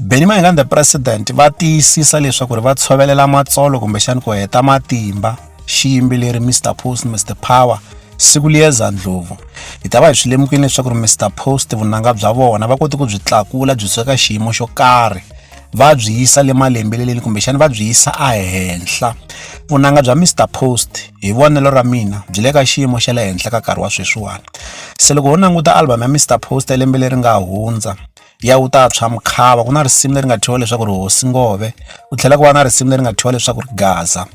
Benny Mayengani the president va tiyisisa leswaku ri va tshovelela matsolo kumbexani ku heta matimba xiyimbeleri Mr Post Mr Power siku liyeza ndlhovu hi ta va hi swi lemukile leswaku ri Mr Post vunanga bya vona va kote ku byi tlakula byi suka ka xiyimo xo karhi va byi yisa le malembeleleni kumbexani va byi yisa ehenhla vunanga bya Mr Post hi vonelo ra mina byi le ka xiyimo xa le henhla ka nkarhi wa sweswiwani se loko ho languta album ya Mr Post ya lembe leri nga hundza ya wu ta tshwa mukhava ku na risimu leri nga thyiwa leswaku ri hosi ngove ku tlhela ku va na risimu leri nga thyiwa leswaku ri gaza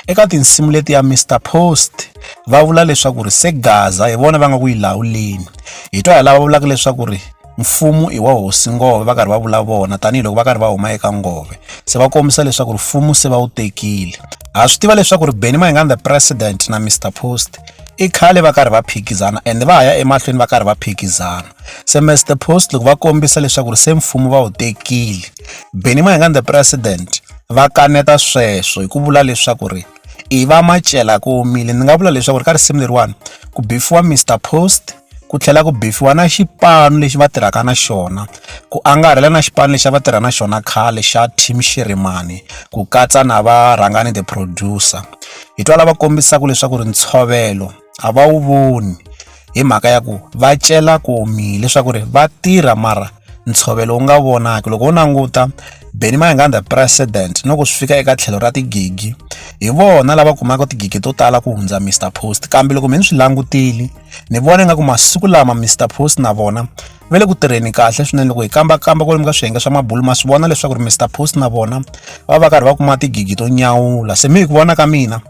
eka tinsimu leti ya Mr Post va vula leswaku ri se gaza hi vona va nga ku yi lawuleni hi twa hi lava vulaka leswaku ri mfumo i wa hosi ngove va karhi va vula vona tanihiloko va karhi va huma eka ngove se va kombisa leswaku rifumo se va wu tekile ha swi tiva leswaku ri beni mahingani the president na mr post i khale va karhi va phikizana ende va ha ya emahlweni va karhi va phikizana semester post loko va kombisa leswaku ri se mfumo va wu tekile beni mayengani the president va kaneta sweswo hi ku vula leswaku ri i va macela ku omile ni nga vula leswaku ri ka risimu leriwani ku bifiwa mr post ku tlhela ku bifiwa na xipano lexi va tirhaka na xona ku angarhela na xipano lexi va tirha na xona khale xa team xirimani ku katsa na varhangani the producer hi twa lava kombisaka leswaku ri ntshovelo a va wu voni hi mhaka ya ku va cela ku omile leswaku ri va tirha mara ntshovelo wu nga vonaki loko wo languta Benny Mayengani president no ku swi fika eka tlhelo ra tigigi hi vona lava kumaka tigigi to tala ku hundza Mister Post kambe loko mi ni swi langutile ni vona nga ku masiku lama Mister Post na vona va le ku tirheni kahle swinene loko hi kambakamba kwalomu ka swiyenge swa mabulu ma swi vona leswaku ri mr post na vona va va karhi va kuma tigigi to nyawula se mi hi ku vona ka mina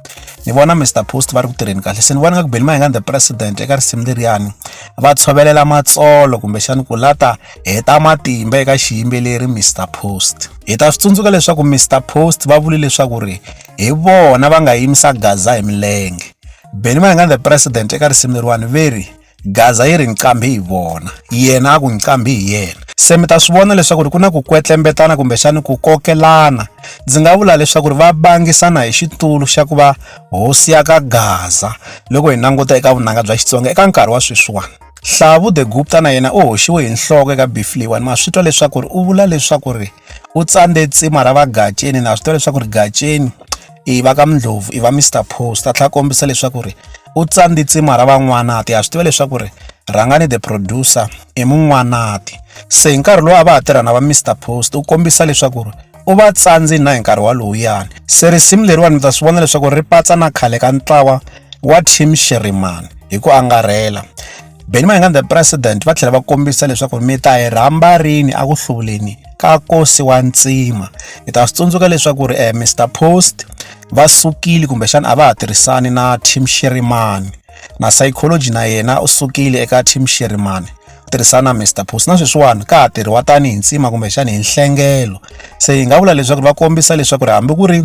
ni vona mr post va ri ku tirheni kahle se ni vona nga ku beni mahingani the president eka risimu leriyani va tshovelela matsolo kumbexani ku lata heta matimba eka xiyimbeleri mr post hi ta swi tsundzuka leswaku mr post va vuli leswaku ri hi vona va nga yimisa gaza hi milenge beni mahingani the president eka risimu leriwani veri gaza yi ri ni qambi hi vona yena a ku ni qambi hi yena se mi ta swi vona leswaku ri ku na ku kwetlembetana kumbexani ku kokelana ndzi nga vula leswaku ri va bangisana hi xitulu xa ku va hosi ya ka gaza loko hi languta eka vunanga bya xitsonga eka nkarhi wa sweswiwani hlavu the gupta na yena u hoxiwe hi nhloko eka bifliwani ma swi twa leswaku ri u vula leswaku ri u tsande tsima ra vagaceni na swi tiva leswaku ri gaceni i va ka mindlovu i va mr post a tlhela kombisa leswaku ri u tsande tsima ra van'wanati ha swi tiva leswaku ri rhangani the producer i mun'wanati se hi nkarhi lowu a va ha tirha na va mr post u kombisa leswaku ri u va tsandzi na hi nkarhi walowuyani se risimu leriwani mi ta swi vona leswaku ri patsa na khale ka ntlawa wa team shirimani hi ku angarhela Benny Mayengani the president va tlhela va kombisa leswaku mi ta hi rhamba rini a ku hluvuleni ka kosi wa ntsima hi ta swi tsundzuka leswaku ri eh, Mr Post va sukile kumbexana a va ha tirhisani na Tim Shirimani na psychology na yena u sukile eka Tim Shirimani tirhisana na Mr Post na sweswiwani ka ha tirhiwa tanihi ntsima kumbexana hi nhlengelo se hi nga vula leswaku va kombisa leswaku ri hambi ku ri